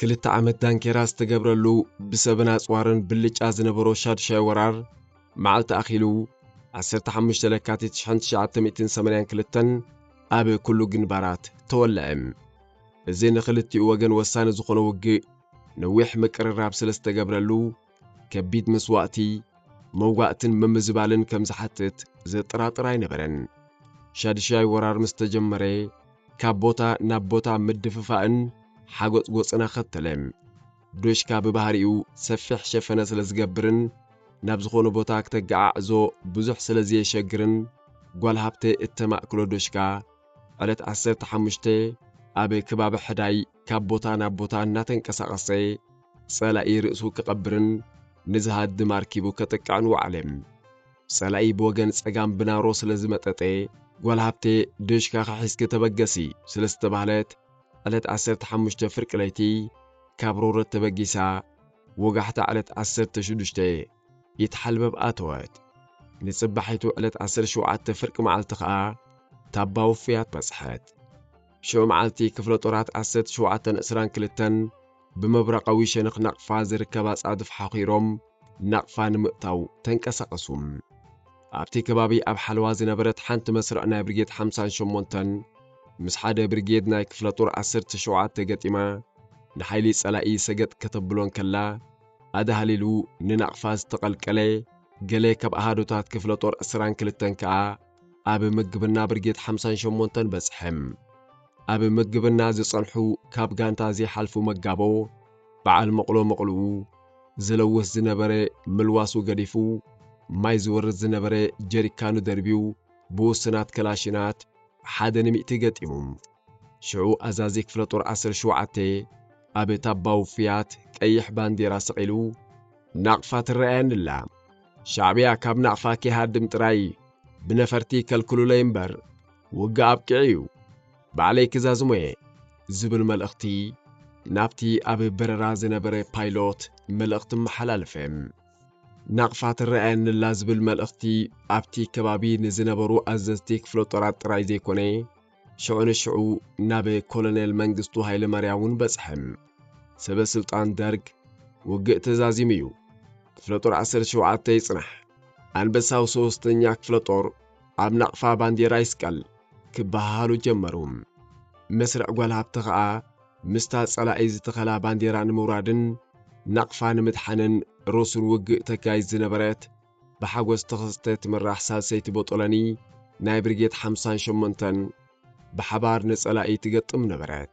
ክልተ ዓመት ዳንኬራ ዝተገብረሉ ብሰብን ኣጽዋርን ብልጫ ዝነበሮ ሻዱሻይ ወራር መዓልቲ ኣኺሉ ዓሰርተ ሓሙሽተ ለካቲት ሽሕን ትሽዓተ ሚእትን ሰማንያን ክልተን ኣብ ኩሉ ግንባራት ተወልዐ። እዚ ንኽልቲኡ ወገን ወሳኒ ዝኾነ ውግእ ነዊሕ ምቅርራብ ስለ ዝተገብረሉ፣ ከቢድ መስዋእቲ፣ መውጋእትን ምምዝባልን ከም ዝሓትት ዘጠራጥር ኣይነበረን። ሻድሻይ ወራር ምስ ተጀመረ፣ ካብ ቦታ ናብ ቦታ ምድፍፋእን ሓጎጽጎጽን ኣኸተለ። ዶሽካ ብባህሪኡ ሰፊሕ ሸፈነ ስለ ዝገብርን ናብ ዝኾነ ቦታ ክተገዓዕዞ ብዙሕ ስለ ዘየሸግርን፣ ጓል ሃብተ እተማእክሎ ዶሽካ ዕለት ዓሰርተ ሓሙሽተ ኣብ ከባቢ ሕዳይ፣ ካብ ቦታ ናብ ቦታ እናተንቀሳቐሰ ጸላኢ ርእሱ ክቐብርን ንዝሃድም ኣርኪቡ ከጥቅዕን ወዓለ። ጸላኢ ብወገን ጸጋም ብናሮ ስለ ዝመጠጠ፣ ጓል ሃብቴ ድሽካኺ ሒዝኪ ተበገሲ ስለ ዝተባህለት ዕለት ዓሰርተ ሓሙሽተ ፍርቂ ለይቲ ካብ ሮረት ተበጊሳ ወጋሕታ ዕለት ዓሰርተ ሽዱሽተ ኢትሓልበብ ኣተወት። ንጽባሒቱ ዕለት ዓሰርተ ሸውዓተ ፍርቂ መዓልቲ ከኣ ታባ ውፍያት በጽሐት። ሽዑ መዓልቲ ክፍለ ጦራት ዓሰርተ ሸውዓተን ዕስራን ክልተን ብመብራቓዊ ሸነኽ ናቕፋ ዝርከብ ኣጻድፍ ሓኺሮም ናቕፋ ንምእታው ተንቀሳቐሱ። ኣብቲ ከባቢ ኣብ ሓለዋ ዝነበረት ሓንቲ መስርዕ ናይ ብርጌድ ሓምሳን ሸሞንተን ምስ ሓደ ብርጌድ ናይ ክፍለ ጦር ዓሰርተ ሸውዓተ ገጢማ ንሓይሊ ጸላኢ ሰገጥ ከተብሎ እንከላ ኣዳህሊሉ ንናቕፋ ዝተቐልቀለ ገለ ካብ ኣሃዱታት ክፍለ ጦር ዕስራን ክልተን ከኣ ኣብ ምግብና ብርጌት ሓምሳን ሸሞንተን በጽሐም። ኣብ ምግብና ዝጸንሑ ካብ ጋንታ ዘይሓልፉ መጋቦ በዓል መቕሎ መቕልኡ ዝለውስ ዝነበረ ምልዋሱ ገዲፉ ማይ ዝወርድ ዝነበረ ጀሪካኑ ደርብዩ ብውሱናት ከላሽናት ሓደ ንሚእቲ ገጢሙ ሽዑ ኣዛዚ ክፍለ ጦር ዓሰርተ ሸውዓተ ኣብ ታባ ውፍያት ቀይሕ ባንዴራ ሰቒሉ ናቕፋ ትረኣየኒ ኣላ። ሻዕብያ ካብ ናቕፋ ኪሃድም ጥራይ ብነፈርቲ ከልክሉለይ እምበር ውግእ ኣብቂዑ እዩ ባዕለይ ክዛዝሞ እየ ዝብል መልእኽቲ ናብቲ ኣብ በረራ ዝነበረ ፓይሎት መልእኽቲ መሓላለፈ። ናቕፋ ትረኣየኒላ ዝብል መልእኽቲ ኣብቲ ከባቢ ንዝነበሩ ኣዘዝቲ ክፍለጦራት ጥራይ ዘይኮነ ሽዑ ንሽዑ ናብ ኮሎኔል መንግስቱ ሃይለማርያም እውን በጽሐ። ሰበ ስልጣን ደርግ ውግእ ተዛዚሙ እዩ። ክፍለ ጦር 17 ይጽናሕ፣ ኣንበሳው ሶስተኛ ክፍለ ጦር ኣብ ናቕፋ ባንዴራ ይስቀል ክበሃሃሉ ጀመሩ። መስርዕ ጓል ሃብተ ኸኣ ምስታ ጸላኢ ዝተኸላ ባንዴራ ንምውራድን ናቕፋ ንምድሓንን ሮሱን ውግእ ተካይድ ዝነበረት ብሓጎስ ተኸስተ እትምራሕ ሳልሰይቲ ቦጦሎኒ ናይ ብርጌድ ሓምሳን ሸሞንተን ብሓባር ንጸላኢ ትገጥም ነበረት።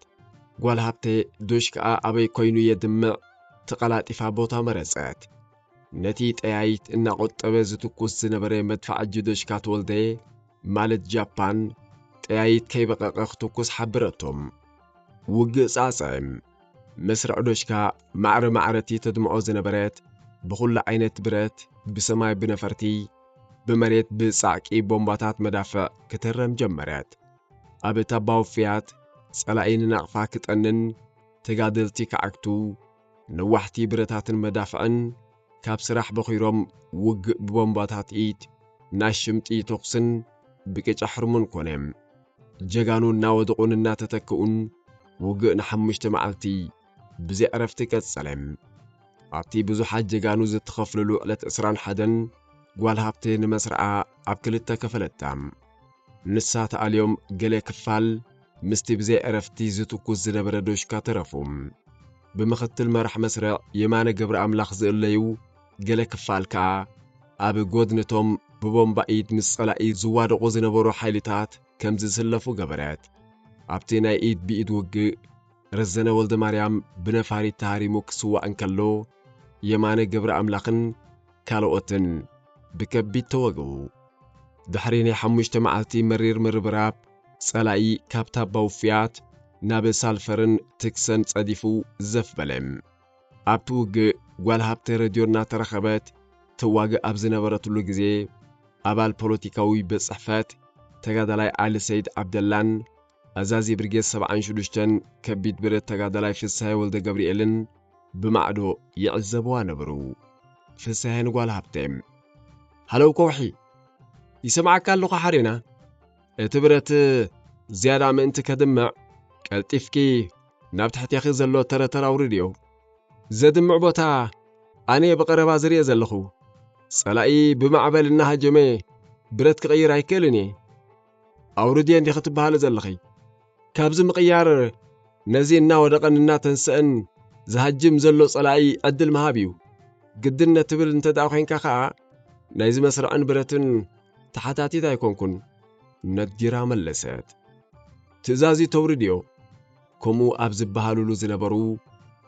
ጓል ሃብቴ ዶሽክኣ ኣበይ ኮይኑ የድምዕ ተቐላጢፋ ቦታ መረጸት። ነቲ ጠያይት እናቖጠበ ዝትኩስ ዝነበረ መድፋዕጂ ዶሽካ ተወልደ ማለት ጃፓን ጠያይት ከይበቐቐ ክትኩስ ሓበረቶም። ውግእ ጻጸ። ምስ ርዕዶሽካ ማዕረ ማዕረቲ ተድምዖ ዝነበረት ብኹሉ ዓይነት ብረት ብሰማይ ብነፈርቲ ብመሬት ብጻዕቂ ቦምባታት መዳፍዕ ክትህረም ጀመረት። ኣብ እታ ባውፍያት ጸላኢ ንናቕፋ ክጠንን ተጋደልቲ ክዓግቱ ነዋሕቲ ብረታትን መዳፍዕን ካብ ስራሕ በኺሮም ውግእ ብቦምባታት ኢድ፣ ናይ ሽምጢ ተኹስን ብቅጫ ሕርሙን ኮነ። ጀጋኑ እናወደቑን እናተተክኡን ውግእ ንሓሙሽተ መዓልቲ ብዘይ ዕረፍቲ ቀጸለ። ኣብቲ ብዙሓት ጀጋኑ ዝተኸፍልሉ ዕለት ዕስራን ሓደን ጓል ሃብቴ ንመስርዓ ኣብ ክልተ ከፈለታ። ንሳ ተኣልዮም ገለ ክፋል ምስቲ ብዘይ ዕረፍቲ ዝትኩስ ዝነበረ ዶሽካ ተረፉ። ብምኽትል መራሕ መስርዕ የማነ ገብረኣምላኽ ዝእለዩ ገለ ክፋል ከኣ ኣብ ጐድኒ'ቶም ብቦምባ ኢድ ምስ ጸላኢ ዝዋደቑ ዝነበሩ ሓይልታት ከም ዝስለፉ ገበረት። ኣብቲ ናይ ኢድ ብኢድ ውግእ፣ ረዘነ ወልደማርያም ብነፋሪት ተሃሪሙ ክስዋእ እንከሎ፣ የማነ ገብረኣምላኽን ካልኦትን ብከቢድ ተወግኡ። ድሕሪ ናይ ሓሙሽተ መዓልቲ መሪር ምርብራብ፣ ጸላኢ ካብታ በውፍያት ናብ ሳልፈርን ትክሰን ጸዲፉ ዘፍ በለ። ኣብቲ ውግእ ጓል ሃብተ ረድዮ እናተረኸበት ተዋግእ ኣብ ዝነበረትሉ ግዜ፣ ኣባል ፖለቲካዊ ቤት ጽሕፈት ተጋዳላይ ዓሊ ሰይድ ዓብደላን ኣዛዚ ብርጌድ ሰብዓን ሽዱሽተን ከቢድ ብረት ተጋዳላይ ፍስሃየ ወልደገብርኤልን ብማዕዶ ይዕዘብዋ ነበሩ። ፍስሃየ ንጓል ሃብተ ሃለው ከውሒ ይሰምዓካ ኣለኹ ሓሬና እቲ ብረት ዝያዳ ምእንቲ ከድምዕ፣ ቀልጢፍኪ ናብ ትሕቴኺ ዘሎ ተረተር ኣውርድዮ። ዘድምዕ ቦታ ኣነ'የ ብቐረባ ዝርእ ዘለኹ። ጸላኢ ብማዕበል እናሃጀመ ብረት ክቕይር ኣይክእልን እየ። ኣውርድዮ እንዲኺ ትበሃሊ ዘለኺ። ካብዚ ምቕያር ነዚ እናወደቐን እናተንሰእን ዝሃጅም ዘሎ ጸላኢ ዕድል ምሃብ እዩ። ግድን ትብል እንተ ደኣ ዄንካ ኸኣ፣ ናይዚ መስርዕን ብረትን ተሓታቲት ኣይኰንኩን። ነጊራ መለሰት። ትእዛዙ ተውርድዮ። ከምኡ ኣብ ዝበሃሉሉ ዝነበሩ፣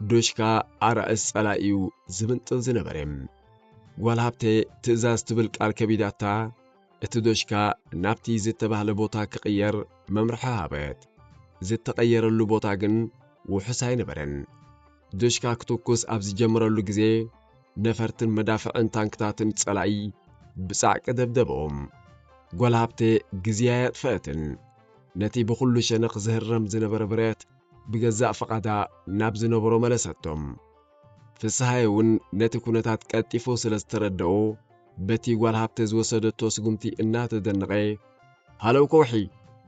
ዶሽካ ኣራእስ ጸላኢ'ዩ ዝምንጥል ዝነበረ። ጓል ሃብተ ትእዛዝ ትብል ቃል ከቢዳታ፣ እቲ ዶሽካ ናብቲ ዝተባህለ ቦታ ክቕየር መምርሒ ሃበት። ዝተቐየረሉ ቦታ ግን ውሑስ ኣይነበረን። ዶሽካ ክትኩስ ኣብ ዝጀመረሉ ግዜ ነፈርትን መዳፍዕን ታንክታትን ጸላኢ ብጻዕቂ ደብደበኦም። ጓል ሃብቴ ግዜ ኣየጥፈአትን። ነቲ ብኹሉ ሸነኽ ዝህረም ዝነበረ ብረት ብገዛእ ፍቓዳ ናብ ዝነበሮ መለሰቶም። ፍስሃየ እውን ነቲ ኩነታት ቀልጢፉ ስለ ዝተረደኦ በቲ ጓል ሃብተ ዝወሰደቶ ስጉምቲ እናተደነቐ ሃለው ከውሒ!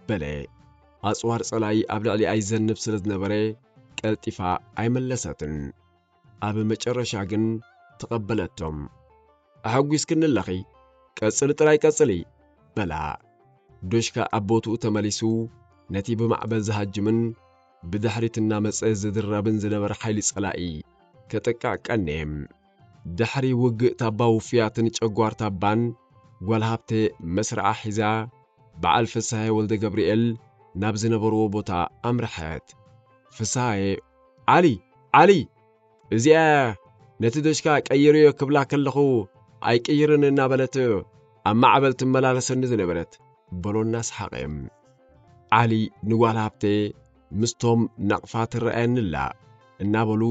በለ። ኣጽዋር ጸላኢ ኣብ ልዕሊኣ ይዘንብ ስለ ዝነበረ ቀልጢፋ ኣይመለሰትን። ኣብ መጨረሻ ግን ተቐበለቶም። ኣሐጒስክኒ ኣለኺ፣ ቀጽሊ ጥራይ ቀጽሊ! በላ። ዶሽካ ኣብ ቦትኡ ተመሊሱ ነቲ ብማዕበል ዝሃጅምን ብድሕሪት እናመጸ ዝድራብን ዝነበረ ሓይሊ ጸላኢ ከጥቅዕ ቀንየ። ድሕሪ ውግእ ታባ ውፍያትን ጨጓር ታባን ጓል ሃብቴ መስርዓ ሒዛ በዓል ፍስሃየ ወልደገብርኤል ናብ ዝነበርዎ ቦታ ኣምርሐት። ፍስሃየ ዓሊ! ዓሊ! እዚኣ ነቲ ደጅካ ቀይርዮ ክብላ ከለኹ ኣይቅይርን እናበለት ኣብ ማዕበል ትመላለሰኒ ዝነበረት በሎና ሰሓቐ ዓሊ ንጓል ሃብተየ ምስቶም ናቕፋ ትረኣየኒ ኣላ እናበሉ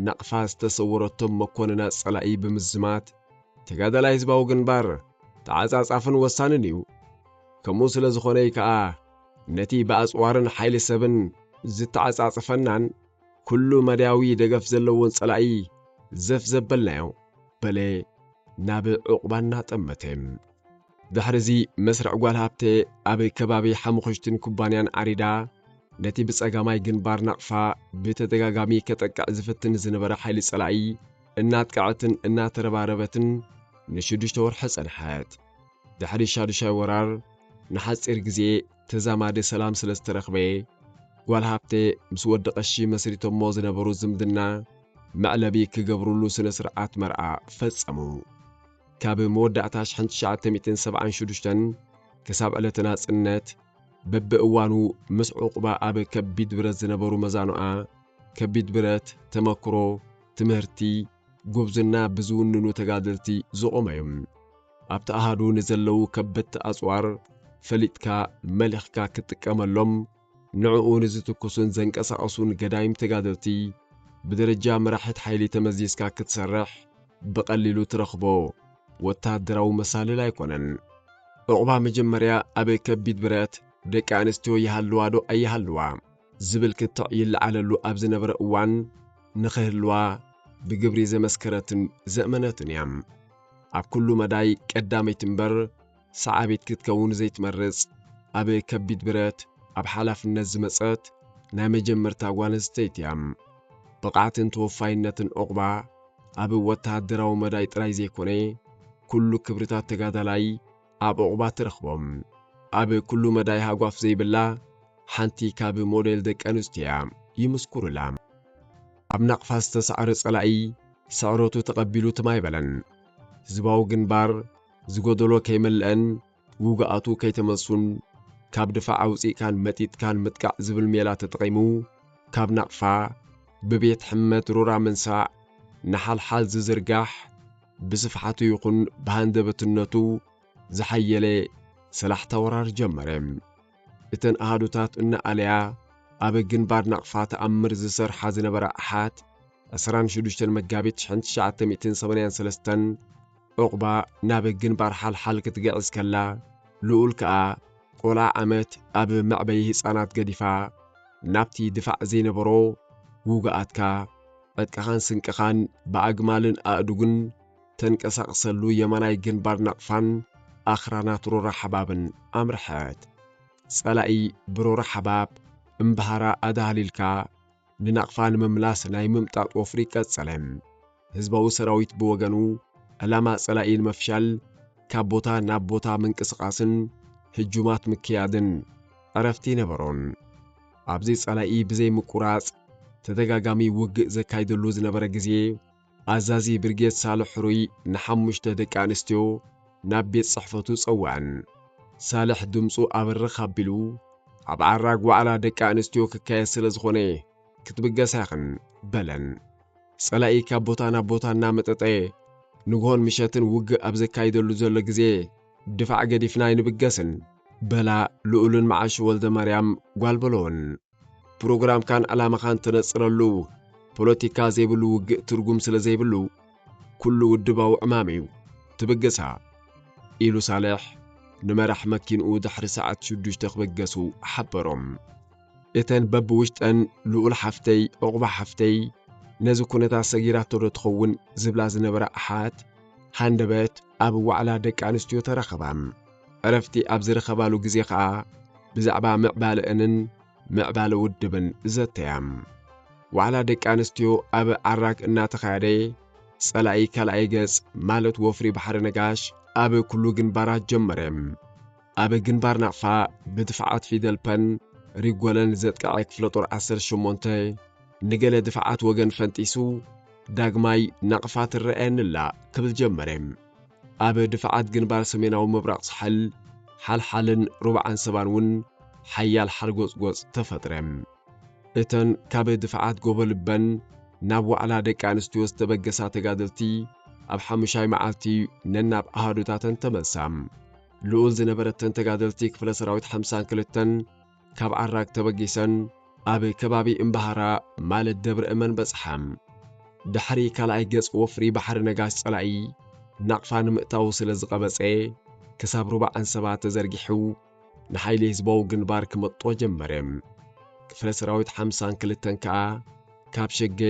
ናቕፋ ዝተሰወረቶም መኮንና ጸላኢ ብምዝማት ተጋዳላይ ህዝባዊ ግንባር ተዓጻጻፍን ወሳንን እዩ ከምኡ ስለ ዝኾነይ ከኣ ነቲ ብኣጽዋርን ሓይሊ ሰብን ዝተዓጻጽፈናን ኩሉ መዳያዊ ደገፍ ዘለዎን ጸላኢ ዘፍ ዘበልናዮ በለ ናብ ዕቝባ እናጠመተ። ድሕሪዚ መስርዕ ጓል ሃብተ ኣብ ከባቢ ሓሙኽሽትን ኩባንያን ዓሪዳ ነቲ ብጸጋማይ ግንባር ናቕፋ ብተደጋጋሚ ከጠቅዕ ዝፍትን ዝነበረ ሓይሊ ጸላኢ እናጥቅዐትን እናተረባረበትን ንሽዱሽተ ወርሒ ጸንሐት። ድሕሪ ሻዱሻይ ወራር ንሓጺር ግዜ ተዛማዲ ሰላም ስለ ዝተረኽበ፣ ጓል ሃብቴ ምስ ወዲ ቀሺ መስሪቶሞ ዝነበሩ ዝምድና መዕለቢ ክገብሩሉ ስነ ስርዓት መርዓ ፈጸሙ። ካብ መወዳእታ ሽሕን ትሽዓተ ሚእትን ሰብዓን ሽዱሽተን ክሳብ ዕለተ ናጽነት በብእዋኑ ምስ ዑቕባ ኣብ ከቢድ ብረት ዝነበሩ መዛኑኣ ከቢድ ብረት፣ ተመክሮ፣ ትምህርቲ፣ ጉብዝና ብዝውንኑ ተጋደልቲ ዝቖመ እዩ። ኣብቲ ኣሃዱ ንዘለዉ ከበድቲ ኣጽዋር ፈሊጥካ መሊኽካ ክትጥቀመሎም፣ ንዕኡ ንዝትኩሱን ዘንቀሳቕሱን ገዳይም ተጋደልቲ ብደረጃ መራሒት ሓይሊ ተመዚዝካ ክትሰርሕ ብቐሊሉ ትረኽቦ ወተሃደራዊ መሳልል ኣይኮነን። ዑቕባ መጀመርያ ኣብ ከቢድ ብረት ደቂ ኣንስትዮ ይሃልዋዶ ኣይሃልዋ፣ ዝብል ክትዕ ይለዓለሉ ኣብ ዝነበረ እዋን ንኽህልዋ ብግብሪ ዘመስከረትን ዘእመነትን እያ። ኣብ ኩሉ መዳይ ቀዳመይቲ እምበር ሰዓቢት ክትከውን ዘይትመርጽ፣ ኣብ ከቢድ ብረት ኣብ ሓላፍነት ዝመጸት ናይ መጀመርታ ጓል ኣንስተይቲ እያ። ብቕዓትን ተወፋይነትን ዑቕባ ኣብ ወተሃደራዊ መዳይ ጥራይ ዘይኮነ፣ ኩሉ ክብርታት ተጋዳላይ፣ ኣብ ዑቕባ ትረኽቦም። ኣብ ኩሉ መዳይ ሃጓፍ ዘይብላ ሓንቲ ካብ ሞዴል ደቂ ኣንስትዮ'ያ፣ ይምስኩሩላ። ኣብ ናቕፋ ዝተሳዕረ ጸላኢ ስዕረቱ ተቐቢሉ ትም ኣይበለን። ህዝባዊ ግንባር ዝጎደሎ ከይመለኣን ውጉኣቱ ከይተመልሱን ካብ ድፋዕ ኣውጺእካን መጢጥካን ምጥቃዕ ዝብል ሜላ ተጠቒሙ ካብ ናቕፋ ብቤት ሕመት ሩራ ምንሳዕ ንሓልሓል ዝዝርጋሕ ብስፍሓቱ ይኹን ብሃንደበትነቱ ዝሓየለ ሰላሕታ ወራር ጀመረ። እተን ኣሃዱታት እናኣለያ ኣብ ግንባር ናቕፋ ተኣምር ዝሰርሓ ዝነበራ ኣሓት ዕስራን ሽዱሽተን መጋቢት ሽሕን ትሽዓተ ሚእትን ሰማንያን ሰለስተን ዑቕባ ናብ ግንባር ሓልሓል ክትግዕዝ ከላ ልኡል ከኣ ቆልዓ ዓመት ኣብ መዕበዪ ህጻናት ገዲፋ ናብቲ ድፋዕ ዘይነበሮ ውጉኣትካ ዕጥቅኻን ስንቅኻን ብኣግማልን ኣእዱግን ተንቀሳቕሰሉ የማናይ ግንባር ናቕፋን ኣኽራናት ሮራ ሓባብን ኣምርሐት። ጸላኢ ብሮራ ሓባብ እምብሃራ ኣዳህሊልካ ንናቕፋ ንምምላስ ናይ ምምጣጥ ወፍሪ ቀጸለ። ህዝባዊ ሰራዊት ብወገኑ ዕላማ ጸላኢ ንምፍሻል ካብ ቦታ ናብ ቦታ ምንቅስቓስን ህጁማት ምክያድን ዕረፍቲ ኣይነበሮን። ኣብዚ ጸላኢ ብዘይ ምቁራጽ ተደጋጋሚ ውግእ ዘካይደሉ ዝነበረ ግዜ፣ ኣዛዚ ብርጌድ ሳልሕ ሕሩይ ንሓሙሽተ ደቂ ኣንስትዮ ናብ ቤት ጽሕፈቱ ጸውዐን። ሳልሕ ድምጹ ኣብርኽ ኣቢሉ፣ ኣብ ዓራግ ዋዕላ ደቂ ኣንስትዮ ክካየድ ስለ ዝኾነ ክትብገሳ ኢኽን፣ በለን። ጸላኢ ካብ ቦታ ናብ ቦታ እናመጠጠ ንግሆን ምሸትን ውግእ ኣብ ዘካይደሉ ዘሎ ግዜ፣ ድፋዕ ገዲፍና ኣይንብገስን በላ ልኡልን መዓሹ ወልደማርያም ጓል በሎን። ፕሮግራምካን ዕላማኻን ተነጽረሉ ፖለቲካ ዘይብሉ ውግእ ትርጉም ስለ ዘይብሉ ኩሉ ውድባዊ ዕማም እዩ ትብግሳ ኢሉ ሳልሕ ንመራሕ መኪንኡ ድሕሪ ሰዓት ሽዱሽተ ክብገሱ ሓበሮም። እተን በብውሽጠን ልኡል ሓፍተይ ዑቕባ ሓፍተይ ነዚ ኩነታት ሰጊራቶ ዶ ትኸውን ዝብላ ዝነበራ ኣሓት ሃንደበት ኣብ ዋዕላ ደቂ ኣንስትዮ ተረኸባ። ዕረፍቲ ኣብ ዝረኸባሉ ግዜ ከኣ ብዛዕባ ምዕባለእንን ምዕባለ ውድብን ዘተያ። ዋዕላ ደቂ ኣንስትዮ ኣብ ዓራግ እናተኻየደ ጸላኢ ካልኣይ ገጽ ማለት ወፍሪ ባሕሪ ነጋሽ ኣብ ኩሉ ግንባራት ጀመረ። ኣብ ግንባር ናቕፋ ብድፍዓት ፊደል ፐን ሪጎለን ዘጥቀዐ ክፍለጦር 18 ንገለ ድፍዓት ወገን ፈንጢሱ ዳግማይ ናቕፋ ትረኣየኒላ ክብል ጀመረ። ኣብ ድፍዓት ግንባር ሰሜናዊ ምብራቕ ሳሕል ሓልሓልን ሩባ ዓንሰባን እውን ሓያል ሓርጎጽጎጽ ተፈጥረ። እተን ካብ ድፍዓት ጎቦልበን ናብ ዋዕላ ደቂ ኣንስትዮ ዝተበገሳ ተጋደልቲ ኣብ ሓሙሻይ መዓልቲ ነናብ ኣሃዱታተን ተመልሳ። ልኡል ዝነበረተን ተጋደልቲ ክፍለ ሰራዊት ሓምሳን ክልተን ካብ ዓራግ ተበጊሰን ኣብ ከባቢ እምባሃራ ማለት ደብረ እመን በጽሓ። ድሕሪ ካልኣይ ገጽ ወፍሪ ባሕሪ ነጋሽ ጸላኢ ናቕፋ ንምእታዉ ስለ ዝቐበጸ ክሳብ ሩባ ዓንሰባ ተዘርጊሑ ንሓይሊ ህዝባዊ ግንባር ክመጦ ጀመረ። ክፍለ ሰራዊት ሓምሳን ክልተን ከኣ ካብ ሸገ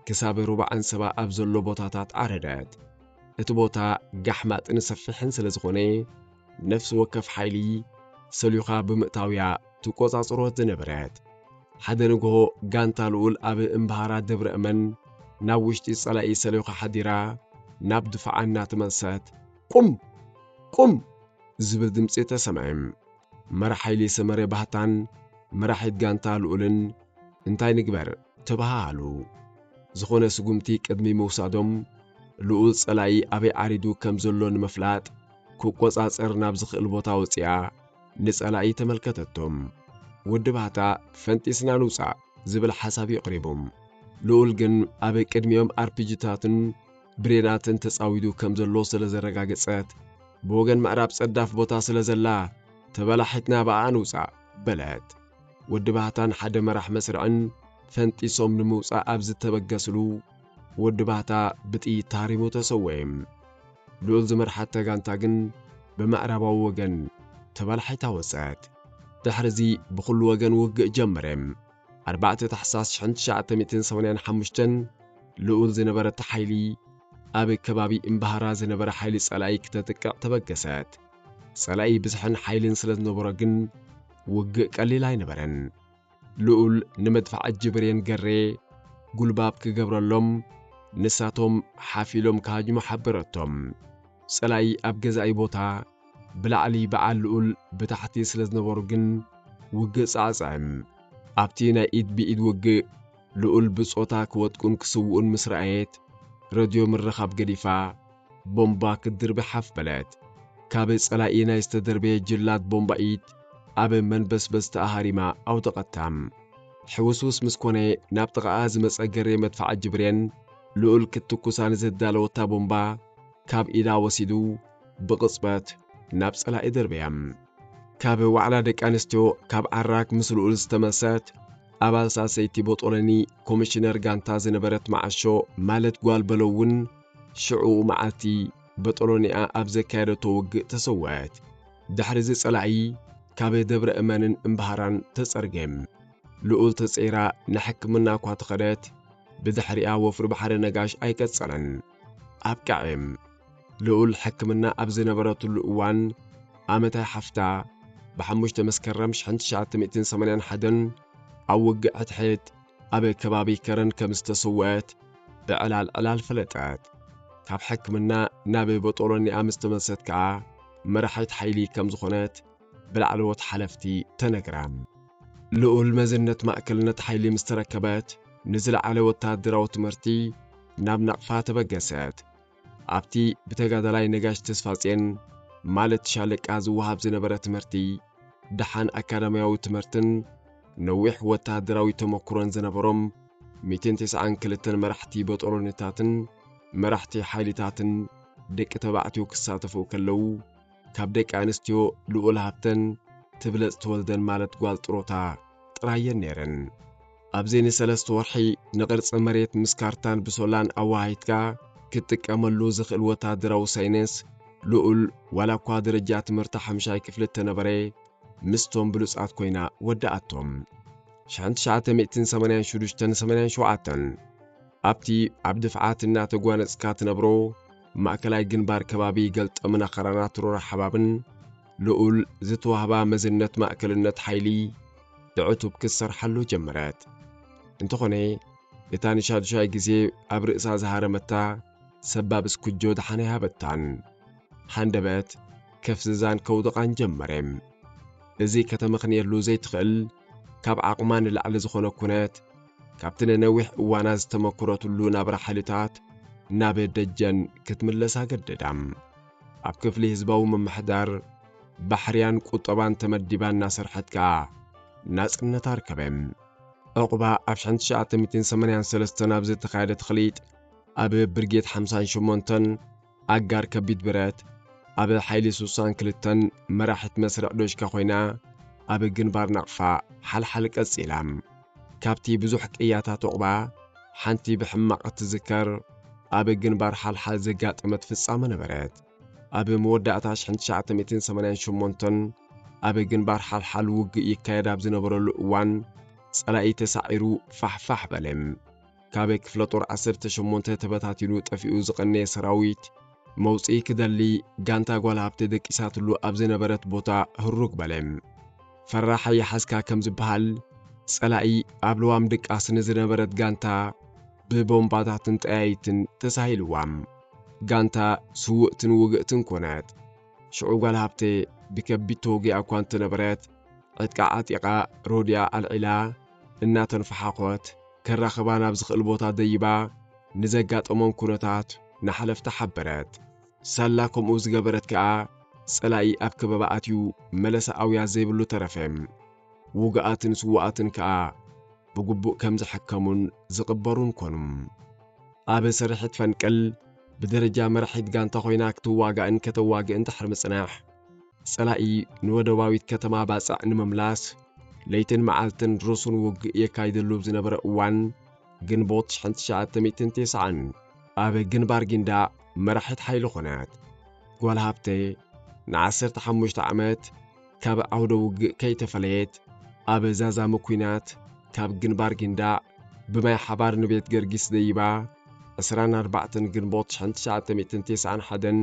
ክሳብ ሩባ ዓንሰባ ኣብ ዘሎ ቦታታት ዓረደት። እቲ ቦታ ጋሕማጥን ሰፊሕን ስለ ዝኾነ ነፍሲ ወከፍ ሓይሊ ሰልዩኻ ብምእታውያ ትቆጻጽሮ ዝነበረት ሓደ ንግሆ ጋንታ ልኡል ኣብ እምብሃራ ደብረ እመን ናብ ውሽጢ ጸላኢ ሰልዩኻ ሓዲራ ናብ ድፋዓ እናተመልሰት ቁም ቁም ዝብል ድምፂ ተሰምዐ። መራሕ ሓይሊ ሰመረ ባህታን መራሒት ጋንታ ልኡልን እንታይ ንግበር ተበሃሃሉ። ዝኾነ ስጉምቲ ቅድሚ ምውሳዶም ልኡል ጸላኢ ኣበይ ዓሪዱ ከም ዘሎ ንምፍላጥ ክቆጻጸር ናብ ዝኽእል ቦታ ወጺኣ ንጸላኢ ተመልከተቶም። ወዲ ባህታ ፈንጢስና ንውጻእ ዝብል ሓሳብ የቕሪቡ። ልኡል ግን ኣብ ቅድሚኦም ኣርፒጂታትን፣ ብሬናትን ተጻዊዱ ከም ዘሎ ስለ ዘረጋገጸት፣ ብወገን ምዕራብ ጸዳፍ ቦታ ስለ ዘላ፣ ተበላሒትና ብኣኣ ንውጻእ፣ በለት። ወዲ ባህታን ሓደ መራሕ መስርዕን ፈንጢሶም ንምውጻእ ኣብ ዝተበገስሉ፣ ወዲ ባህታ ብጥይት ተሃሪሙ ተሰውኤ። ልኡል ዝመርሓታ ጋንታ ግን ብምዕራባዊ ወገን ተበላሒታ ወጸት። ድሕሪዚ ብኹሉ ወገን ውግእ ጀመረ። ኣርባዕተ ታሕሳስ ሽሕን ትሽዓተ ሚእትን ሰማንያን ሓሙሽተን ልኡል ዝነበረ እቲ ሓይሊ ኣብ ከባቢ እምባሃራ ዝነበረ ሓይሊ ጸላኢ ክተጥቅዕ ተበገሰት። ጸላኢ ብዝሕን ሓይልን ስለ ዝነበሮ ግን ውግእ ቀሊል ኣይነበረን። ልኡል ንመድፍዓ እጂ ብሬን ገሬ ጉልባብ ክገብረሎም ንሳቶም ሓፍ ኢሎም ክሃጅሙ ሓበረቶም። ጸላኢ ኣብ ገዛኢ ቦታ ብላዕሊ ብዓል ልኡል ብታሕቲ ስለ ዝነበሩ ግን ውግእ ጻዕጽዕም። ኣብቲ ናይ ኢድ ብኢድ ውግእ ልኡል ብጾታ ክወድቁን ክስውኡን ምስ ረኣየት ረድዮ ምርኻብ ገዲፋ ቦምባ ክትድርቢ ሓፍ በለት። ካብ ጸላኢ ናይ ዝተደርበየ ጅላት ቦምባ'ኢት ኣብ መንበስበስቲ ኣሃሪማ ኣውደቐታም። ሕውስውስ ምስ ኮነ ናብ ጥቓኣ ዝመጸ ገሬ መድፍዓጂ ብሬን ልኡል ክትትኩሳ ንዝዳለወታ ቦምባ ካብ ኢዳ ወሲዱ ብቕጽበት ናብ ጸላኢ ደርበያ። ካብ ዋዕላ ደቂ ኣንስትዮ ካብ ዓራክ ምስ ልኡል ዝተመሰት ኣባል ሳሰይቲ ቦጦሎኒ ኮሚሽነር ጋንታ ዝነበረት መዓሾ ማለት ጓል በለው እውን ሽዑኡ መዓልቲ በጦሎኒኣ ኣብ ዘካየደቶ ውግእ ተሰወአት። ድሕሪዚ ጸላኢ ካብ ደብረ እመንን እምባሃራን ተጸርገ። ልኡል ተጸይራ ንሕክምና እኳ ተኸደት ብድሕሪኣ ወፍሪ ባሕሪ ነጋሽ ኣይቀጸለን። ኣብቃዒም ልኡል ሕክምና ኣብ ዝነበረትሉ እዋን ኣመታይ ሓፍታ ብሓሙሽተ መስከረም 1981 ኣብ ውግእ ሕድሕድ ኣብ ከባቢ ከረን ከም ዝተሰወአት ብዕላል ዕላል ፈለጠት። ካብ ሕክምና ናብ ቦጦሎኒኣ ምስ ተመልሰት ከኣ መራሒት ሓይሊ ከም ዝኾነት ብላዕለዎት ሓለፍቲ ተነግራ። ልኡል መዝነት ማእከልነት ሓይሊ ምስ ተረከበት፣ ንዝለዓለ ወተሃደራዊ ትምህርቲ ናብ ናቕፋ ተበገሰት። ኣብቲ ብተጋዳላይ ነጋሽ ተስፋጼን፣ ማለት ሻለቃ፣ ዝወሃብ ዝነበረ ትምህርቲ፣ ደሓን ኣካዳምያዊ ትምህርትን ነዊሕ ወተሃደራዊ ተመኩሮን ዝነበሮም ሚእትን ተስዓን ክልተን መራሕቲ በጦሎኒታትን መራሕቲ ሓይሊታትን ደቂ ተባዕትዮ ክሳተፉ ከለዉ፣ ካብ ደቂ ኣንስትዮ ልኡል ሃብተን ትብለጽ ተወልደን ማለት ጓል ጥሮታ ጥራይ እየን ነይረን። ኣብዚ ንሰለስተ ወርሒ ንቕርጺ መሬት ምስ ካርታን ብሶላን ኣወሃሂድካ ክትጥቀመሉ ዝኽእል ወተሃደራዊ ሳይነስ ልኡል ዋላ እኳ ደረጃ ትምህርታ ሓምሻይ ክፍሊ እተነበረ ምስቶም ብሉጻት ኮይና ወዳኣቶም። ሽሕን ትሽዓተ ሚእትን ሰማንያን ሽዱሽተን ሰማንያን ሸውዓተን ኣብቲ ኣብ ድፍዓት እናተጓነጽካ ትነብሮ ማእከላይ ግንባር ከባቢ ገልጠምን ኣኸራናት ሮራ ሓባብን ልኡል ዝተዋህባ መዝነት ማእከልነት ሓይሊ ብዕቱብ ክትሰርሓሉ ጀመረት። እንተኾነ እታ ንሻዱሻይ ግዜ ኣብ ርእሳ ዝሃረመታ ሰባብ እስኩጆ ደሓን ኣይሃበታን። ሃንደበት ከፍዝዛን ከውድቓን ጀመረ። እዚ ከተመኽንየሉ ዘይትኽእል ካብ ዓቕማ ንላዕሊ ዝኾነ ኩነት ካብቲ ንነዊሕ እዋናት ዝተመኩረትሉ ናብራ ሓይልታት ናብ ደጀን ክትምለስ ኣገደዳ። ኣብ ክፍሊ ህዝባዊ ምምሕዳር፣ ባሕርያን ቁጠባን ተመዲባ እናሰርሐት ከኣ ናጽነት ኣርከበ። ዑቕባ ኣብ ሽሕን ትሽዓተ ሚእትን ሰማንያን ሰለስተን ኣብ ዝተኻየደ ተኽሊጥ ኣብ ብርጌድ ሓምሳን ሸሞንተን ኣጋር ከቢድ ብረት ኣብ ሓይሊ ሱሳን ክልተን መራሒት መስርዕ ዶሽካ ኮይና ኣብ ግንባር ናቕፋ ሓልሓል ቀጺላ። ካብቲ ብዙሕ ቅያታት ዑቕባ ሓንቲ ብሕማቕ እትዝከር ኣብ ግንባር ሓልሓል ዘጋጠመት ፍጻመ ነበረት። ኣብ መወዳእታ ሽሕን ትሽዓተ ሚእትን ሰማንያን ሸሞንተን ኣብ ግንባር ሓልሓል ውግእ ይካየድ ኣብ ዝነበረሉ እዋን ጸላኢ ተሳዒሩ ፋሕፋሕ በለ። ካብ ክፍለ ጦር ዓሰርተ ሸሞንተ ተበታቲኑ ጠፊኡ ዝቐነየ ሰራዊት መውፅኢ ክደሊ ጋንታ ጓል ሃብቲ ደቂሳትሉ ኣብ ዝነበረት ቦታ ህሩግ በለ። ፈራሕ ኣይሓዝካ ከም ዝበሃል ጸላኢ ኣብ ልዋም ድቃስ ንዝነበረት ጋንታ ብቦምባታትን ጠያይትን ተሳሂልዋም ጋንታ ስውእትን ውግእትን ኮነት። ሽዑ ጓል ሃብቴ ብከቢድ ተወጊኣ እኳ እንተነበረት ዕጥቃ ዓጢቓ ሮድያ ኣልዒላ እናተንፈሓኾት ከራኽባ ናብ ዝኽእል ቦታ ደይባ ንዘጋጠሞም ኩነታት ንሓለፍቲ ሓበረት። ሳላ ከምኡ ዝገበረት ከኣ ጸላኢ ኣብ ከበባ ኣትዩ መለሳ ኣውያት ዘይብሉ ተረፈ። ውጉኣትን ስዉኣትን ከኣ ብግቡእ ከም ዝሕከሙን ዝቕበሩን ኮኑ። ኣብ ስርሒት ፈንቅል ብደረጃ መራሒት ጋንታ ኮይና ክትዋጋእን ከተዋግእን ድሕሪ ምጽናሕ፣ ጸላኢ ንወደባዊት ከተማ ባጽዕ ንምምላስ ለይትን መዓልትን ርሱን ውግእ የካይደሉ ኣብ ዝነበረ እዋን ግንቦት 1990 ኣብ ግንባር ጊንዳዕ መራሒት ሓይሊ ኾነት። ጓል ሃብተይ ንዓሰርተ ሓሙሽተ ዓመት ካብ ዓውደ ውግእ ከይተፈለየት ኣብ ዛዛሚ ኲናት ካብ ግንባር ጊንዳዕ ብማይ ሓባር ንቤት ገርጊስ ደይባ 24 ግንቦት 1991